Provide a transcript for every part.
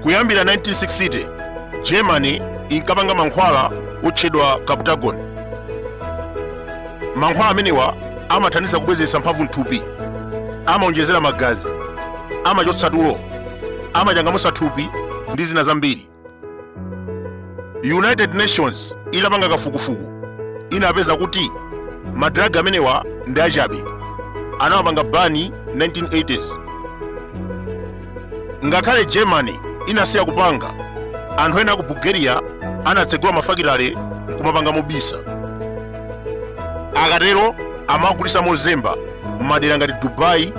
kuyambira 1960 germany inkapanga mankhwala otchedwa captagon mankhwala amenewa amathandiza kubwezetsa mphamvu mthupi amaonjezera magazi amachotsa tulo amachangamusa thupi ndi zina zambiri united nations inapanga kafukufuku inapeza kuti madragi amenewa ndi achabe anawapanga bani 1980s ngakhale germany inasiya kupanga anthu ena a ku bulgaria anatsegula mafakitale kumapanga mobisa akatero amagulisa mozemba m'madera ngati dubai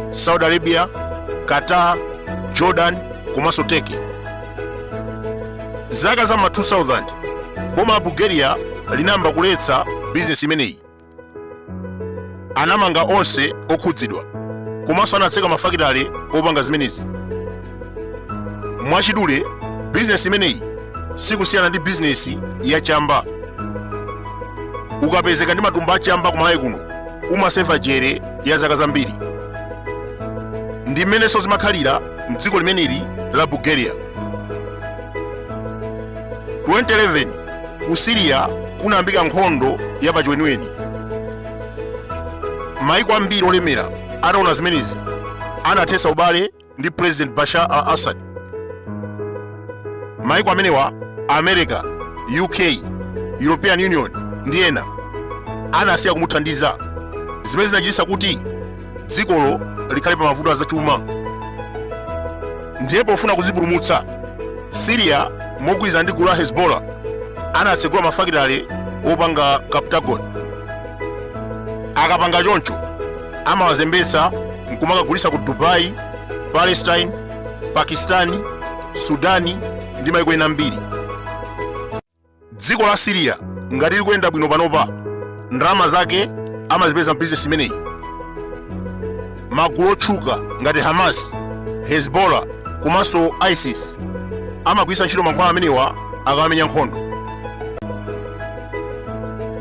saudi arabia qatar jordan komanso turkey zaka za ma 2000 boma la bulgaria linayamba kuletsa bizinesi imeneyi anamanga onse okhudzidwa komanso anatseka mafakitale opanga zimenezi mwachidule bizinesi imeneyi sikusiyana ndi bizinesi ya chamba ukapezeka ndi matumba a chamba ku malawi kuno umaseva jere ya zaka zambiri ndi mmenenso zimakhalira mdziko limeneli la bulgaria 2011 ku siriya kunayambika nkhondo ya pachiweniweni maiko ambiri olemera ataona zimenezi anathetsa ubale ndi president bashar al assad maiko amenewa america uk european union ndi ena anasiya kumuthandiza zimene zinachititsa kuti dzikolo likhale pa mavuto azachuma ndiye pofuna kuzipulumutsa siriya mogwirizana ndi gulu la hezbollah anatsegula mafakitale opanga captagon akapanga choncho amawazembetsa nkumakagulitsa ku dubai palestine pakistani sudani ndi maiko ena ambiri dziko la siriya ngati likuyenda bwino panopa ndrama zake amazipeza mbizinesi imeneyi magulu otchuka ngati hamas hezbollah komanso isis amagwiritsa ntchito mankhwala amenewa akamamenya nkhondo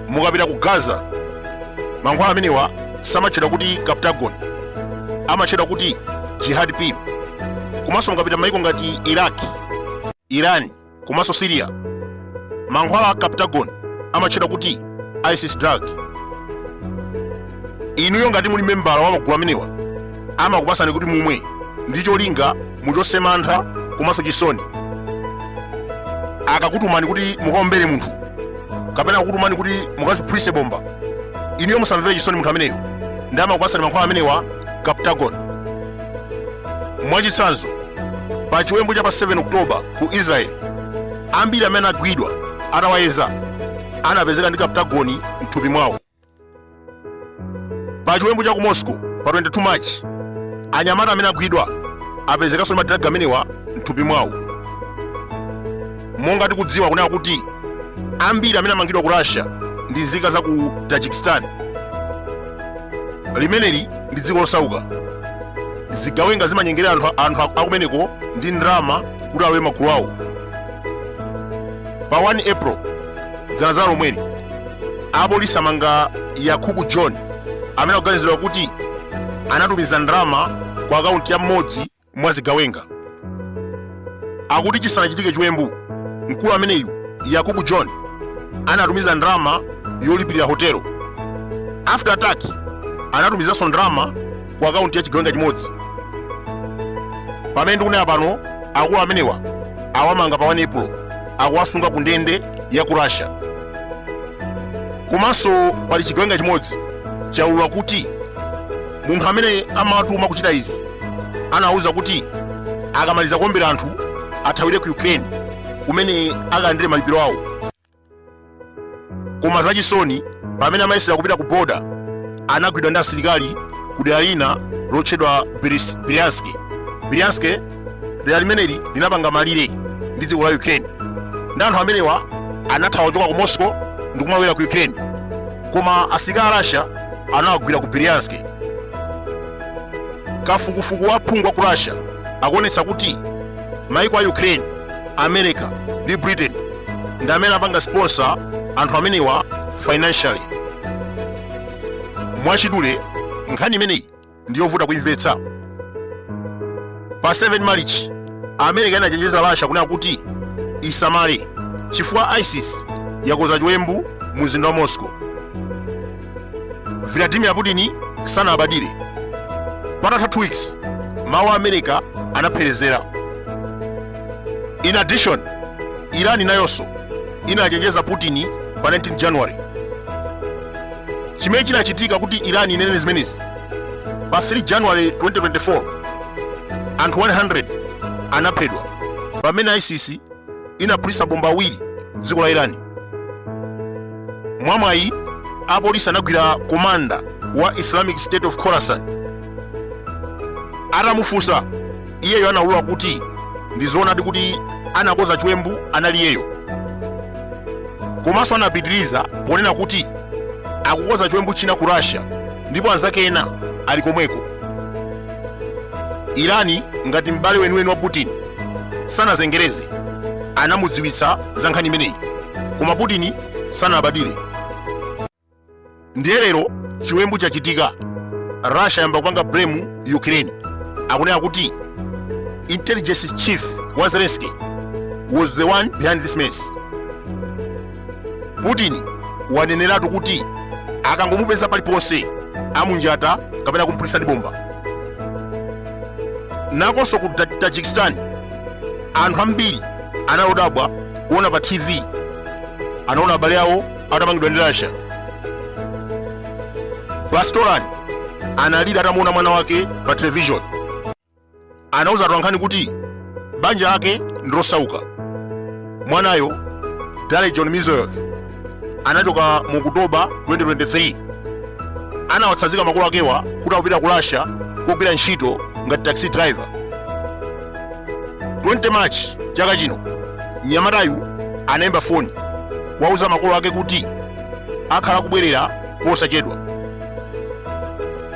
mukapita ku gaza mankhwala amenewa samatchedwa kuti captagon amatchedwa kuti jihad pill komanso mukapita maiko ngati iraq iran komanso syria mankhwala a captagon amatchedwa kuti isis drug inuyo ngati muli membala wa magulu amenewa amakupasani kuti mumwe ndi cholinga muchotse mantha komanso chisoni akakutumani kuti mukaombere munthu kapena akakutumani kuti mukaziphulitse bomba inuyo musamvere chisoni munthu ameneyo ndi amakupasani mankhwala amenewa captagon mwachitsanzo pa chiwembu cha pa 7 oktoba ku israeli ambiri amene agwidwa atawayeza anapezeka ndi captagon mthupi mwawo pa chiwembu cha ku moscow pa 22 march anyamata amene agwidwa apezekanso ndi madiraga amenewa mthupi mwawo monga tikudziwa kunena kuti ambiri amene amangidwa ku russia ndi nzika za ku tajikistan limeneli ndi dziko losauka zigawenga zimanyengerera anthu akumeneko ndi ndalama kuti alowe magulu awo pa 1 april dzana dzana lomweli Apolisi amanga Yakubu John amene akuganiziridwa kuti anatumiza ndalama ku akaunti ya mmodzi mwa zigawenga. Akuti chisanachitike chiwembu, mkulu ameneyu Yakubu John anatumiza ndalama yolipirira hotelo. After attack anatumizanso ndalama ku akaunti ya chigawenga chimodzi pamene ndikunena pano akulu amenewa awamanga pa 1 april akuwasunga ku ndende ya ku russia komanso pali chigawenga chimodzi chaulula kuti munthu amene amatuma kuchita izi anawuza kuti akamaliza kuombera anthu athawire ku ukraine kumene akalandire malipiro awo koma zachisoni pamene amayesera kupita ku boda anagwidwa ndi asilikali ku dera lina lotchedwa Bryansk Bryansk dera limeneli linapanga malire ndi dziko la Ukraine ndi anthu amenewa anathawa kuchoka ku Moscow ndi kumawera ku Ukraine koma asilikali a Russia anawagwira ku Bryansk kafukufuku wa phungu wa ku Russia akuonetsa kuti maiko a ukraine america ndi britain ndi amene apanga sponsor anthu amenewa financially mwachidule nkhani imeneyi ndi yovuta kuimvetsa pa 7 marichi america inachenjeza russia kunena kuti isamale chifukwa isis yakonza chiwembu mu mzinda wa moscow vladimir putin sanalabadire patatha 2 weeks mawu a america anapherezera in addition iran nayonso inachenjeza putin pa 19 january chimene chinachitika kuti iran inene zimenezi pa 3 january 2024 anthu 100 anaphedwa pamene isis inaphulitsa bomba awiri m'dziko la irani mwamwayi apolisi anagwira komanda wa islamic state of Khorasan atamufunsa iyeyo anaulula kuti ndi zoonadi kuti anakoza chiwembu anali iyeyo komanso anapitiriza ponena kuti akukoza chiwembu china ku russia ndipo anzake ena ali komweko irani ngati m'bale weniweni wa putin sanazengereze anamudziwitsa za nkhani imeneyi koma putin sanalabadire ndiye lero chiwembu chachitika russia yamba kupanga blame ukraine akunena kuti intelligence chief wa zelensky was the one behind this mess putin waneneratu kuti akangomupeza paliponse amunjata kapena kumphulitsa ndi bomba nakonso ku tajikistan anthu ambiri anadabwa kuona pa tv anaona abale awo atamangidwa ndi russia bastolan analira atamuona mwana wake pa television anauza atolankhani kuti banja lake ndi losauka mwanayo dalerjon mirzoyev anachoka mu okutoba 2023 anawatsazika makolo akewa kuti akupita ku russia kogwira ntchito ngati taxi driver 20 march chaka chino mnyamatayu anayimba foni kuwauza makolo ake kuti akhala kubwerera posachedwa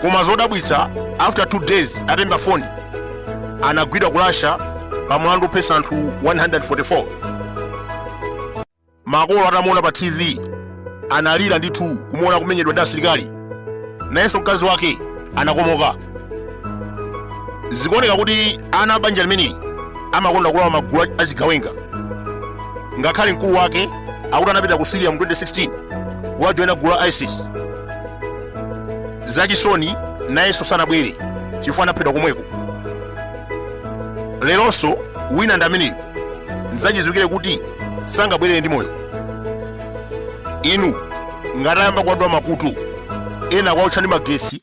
koma zodabwitsa after 2 days atayimba foni anagwidwa ku russia pa mlandu ophetsa anthu 144 makolo atamuona pa tv analira ndithu kumuona akumenyedwa ndi asilikali nayenso mkazi wake anakomoka zikuoneka kuti ana a banja limeneli amakonda kulowa magulu achigawenga ngakhale mkulu wake akuti anapita ku syria mu 2016 kukajoyina gulu la isis zachisoni nayenso sanabwere chifukwa anaphedwa komweko leronso wina ndi ameneyo nzachidziwikire kuti sangabwerere ndi moyo inu ngati ayamba kuwadula makutu ena kuwaotcha ndi magetsi